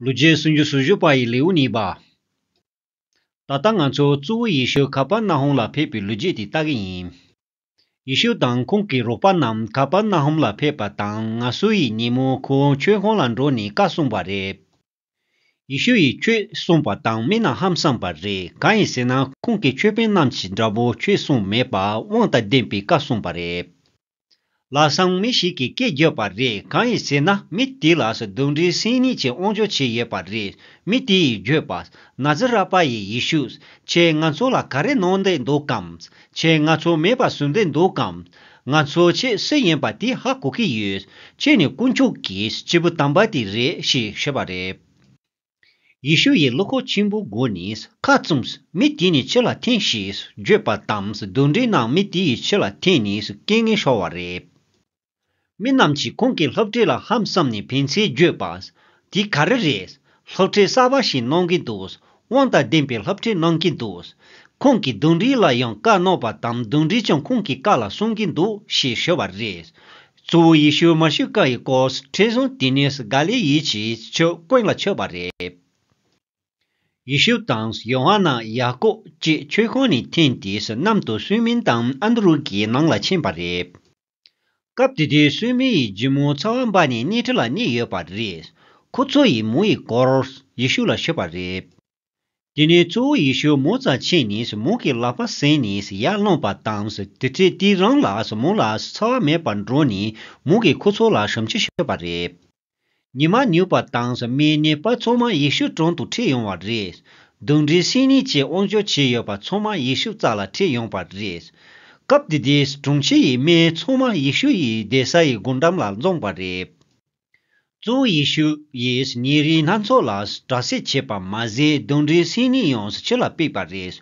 ལུས་རྗེས་སུ་འཇུ་ཟུར་བཞུགས་པ་ཡི་ལེའུ་གཉིས་པ། ད་ལྟ་ང་ཚོ་གཙོ་བོ་ཡེ་ཤུ་ཁ་པར་ན་ཧོམ་ལ་ཕེབས་པའི་ལུས་རྗེས་དེ་ལྟ་གི་ཡིན། ཡེ་ཤུ་དང་ཁོང་གི་རོགས་པ་རྣམས་ཁ་པར་ན་ཧོམ་ལ་ཕེབས་པ་དང་ང་སུ་ཡི་ཉིན་མོ་ཁོ་བོ་ཁྱོད་ཁོང་ལ་འགྲོ་ནས་བཀའ་གསུངས་པ་རེད། ཡེ་ཤུ་ཡིས་ཁྱོད་གསུངས་པ་དང་སྨིན་ན་ཧམ་བསམས་པ་རེད་གང་ཡིན་ཟེར་ན་ཁོང་གི་ཆོས་དཔོན་རྣམས་ཀྱིས་འདྲ་པོ་ཁྱོད་གསུངས་མེད་པ་དབང་དང་ལྡན་པའི་བཀའ་གསུངས་པ་རེད། ལ་སང་མི་ཞིག་གིས་སྐད་བརྒྱབ་པ་རེད་གང་ཡིན་ཟེར་ན་མི་དེ་ལ་ཟ་འདུག་འདྲེ་སྲིན་གཉིས་ཀྱིས་དབང་འབྱོར་བྱས་ཡོད་པ་རེད་མི་དེ་ཡིས་བརྗོད་པ། ན་ཛི་རཱ་པ་ཡི་ཡེ་ཤུ། ཁྱེད་ང་ཚོ་ལ་ག་རེ་གནང་བསྡད་འདུག་གམ། ཁྱེད་ང་ཚོ་མེད་པ་བཟོས་བསྡད་འདུག་གམ། ང་ཚོ་ཁྱེད་སུ་ཡིན་པ་དེ་ཧ་གོ་གི་ཡོད། ཁྱེད་ནི་དཀོན་མཆོག་གི་སྐྱེས་བུ་དམ་པ་དེ་རེད་ཞེས་བཤད་པ་རེད། ཡེ་ཤུ་ཡིས་གློ་ཁོག་ཆེན་པོའི་སྒོ་ནས་ཁ་བཙུམས། མི་དེ་ནི་ཁྱི་ལ་འཐེན་ཞེས་བརྗོད་པ་དང་བསྡུར་འདྲའི་ནང་མི་དེ་ཡིས་ཁྱི་ལ་འཐེན་ནས་སྐད་ངན་ཤོར་བ་རེད། མི་རྣམས་ཀྱིས་ཁོང་གི་སློབ་གྲྭའི་ལ་ཧམ་བསམ་ནས་ཕན་ཚུན་བརྗོད་པ། དེ་ག་རེ་རེད། སློབ་གྲྭའི་གསར་པ་ཞིག་གནང་གིན་འདུག་དབང་དང་ལྡན་པའི་སློབ་གྲྭས་གནང་གིན་འདུག་ཁོང་གིས་བསྡུར་འདྲིའི་ལ་ཡང་བཀའ་གནང་བ་དང་བསྡུར་འདྲིས་ཀྱང་ཁོང་གི་བཀའ་ལ་སྲུང་གིན་འདུག་ཞེས་ཞུ་བ་རེད། གཙོ་བོ་ཡེ་ཤུ་མཱ་ཤི་ཀ་ཡི་སྐོར་ཁྲིད་བཟུང་དེ་ནས་སུ་གཱ་ལེ་ཡིད་ཀྱི་ཆོས་དཔོན་ལ་ཆོས་པ་རེད། ཡེ་ཤུ་དང་ཡོ་ཧ་ན་ཡ་ཀོབ་བཅས་ཆོས་ཁང་ནས་འཐེན་དེ་སུ་གནམ་དུ་སུའི་མིན་དང་ཨ་འདུ་རུ་ཀའི་ནང་ལ་ཕྱིན་པ་རེད། སྐབས་དེ་དུས་སུའི་མིན་ཡི་རྒྱུ་མོ་ཚ་བ་འབའ་ནས་སྣེ་ཁྲི་ལ་གནས་ཡོད་པ་རེད། ཁོ་ཚོ་ཡི་མོ་ཡི་སྐོར་ཡེ་ཤུ་ལ་ཤོད་པ་རེད། དེ་ནས་གཙོ་བོ་ཡེ་ཤུ་མོ་རྩ་ཆེན་ནས་མོ་གི་ལག་པ་ཟིན་ནས་ཡར་བླངས་པ་དང་དེ་ཚེ་དེ་རང་ལ་མོ་ལ་ཚ་བ་མེད་པར་འགྲོ་ནས་མོ་གི་ཁུ་ཚུར་ལ་ཞམ་ཆུ་ཤོད་པ་རེད། ཉི་མ་ནུས་པ་དང་མའི་ནད་པ་ཚང་མ་ཡེ་ཤུ་དྲུང་དུ་ཁྲིད་ཡོང་བ་རེད། གདུང་འདྲེ་སྲིན་ནད་ཀྱི་དབང་ཆོག་བྱས་ཡོད་པ་ཚང་མ་ཡེ་ཤུ་རྩ་ལ་ཁྲིད་ཡོང་བ་རེད། སྐབས་དེ་དུས་དྲུང་ཆེ་ཡི་སྨན་ཚང་མ་ཡེ་ཤུ་ཡི་སྡེ་ས་ཡི་སྒོ་འགྲམ་ལ་འཛོམས་པ་རེད། གཙོ་བོ་ཡེ་ཤུ་ཡིས་ཉིན་རེའི་སྣ་ཚོགས་ལ་དྲག་སེལ་བྱས་པ་མ་ཟད་གདུང་འདྲེའི་སྲིང་རྙིང་ཡོངས་ཕྱི་ལ་སྤེགས་པ་རེད།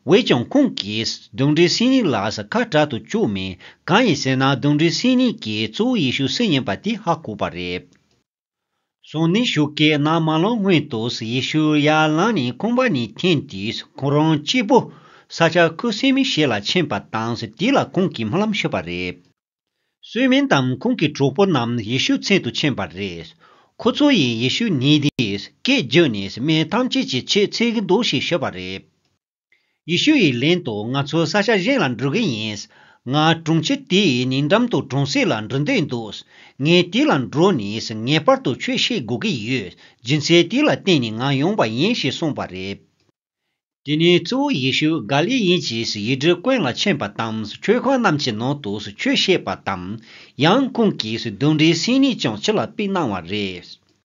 འོས་ཀྱང་ཁོང་གིས་གདུང་འདྲེའི་སྲིང་རྙིང་ལ་ཁ་གྲག་ཏུ་བཅུག་མེད། གང་ཡིན་ཟེར་ན་གདུང་འདྲེའི་སྲིང་རྙིང་གིས་གཙོ་བོ་ཡེ་ཤུ་སྲིད་ཡིན་པ་དེ་ཧ་གོ་བ་རེད། སོང་ནས་ཞོགས་ཀའི་ནང་མ་ལངས་སྔོན་དུ་ཡེ་ཤུ་ཡར་ལངས་ནས་ཁང་པ་ནས་འཐེན་ཏེ་ཁོང་རང་སྐྱིད་པོ། ས་ཆ་ཁུ་སིམ་མེར་ཞིག་ལ་ཕྱིན་པ་དང་དེ་ལ་ཁོང་གིས་སྨོན་ལམ་ཞུས་པ་རེད། སུས་མིན་དང་ཁོང་གི་གྲོགས་པོ་རྣམས་ཡེ་ཤུ་མཚན་དུ་ཕྱིན་པ་རེད། ཁོ་ཚོ་ཡིས་ཡེ་ཤུ་ཉིད་དེའི་སྐད་བརྒྱུད་ནས་སྨན་ཐམས་ཅད་ཀྱི་ཆེད་འཚེ་གི་འདུག་ཞེས་ཤོད་པ་རེད། ཡེ་ཤུ་ཡི་ལན་དུ་ང་ཚོ་ས་ཆ་གཞན་ལ་འགྲོ་གི་ཡིན། ང་དྲུང་ཆེ་དེའི་ཉེ་འགྲམ་དུ་གྲོང་གསེབ་ལ་འགྲོ་འདོད་འདུག་ངས་དེ་ལ་འགྲོ་ནས་ངེས་པར་དུ་ཆོས་བཤད་དགོས་ཀྱི་ཡོད། སྦྱིན་སྲེག་དེ་ལ་བརྟེན་ནས་ང་ཡོང་བ་ཡིན་ཞེས་གསུངས་པ་རེད། དེ་ནས་གཙོ་བོ་ཡེ་ཤུ་ག་ལས་ཡིན་ཅེས་ཡིག་འབྲུ་ཀུན་ལ་མཁྱེན་པ་དང་མཆོད་ཁང་རྣམས་ཀྱི་ནང་དུ་ཆོས་བཤད་པ་དང། ཡང་ཀུན་གྱིས་གདུང་འདྲེའི་སེམས་ནུས་ཀྱང་ཕྱི་ལ་དཔེ་སྣང་བ་རེད།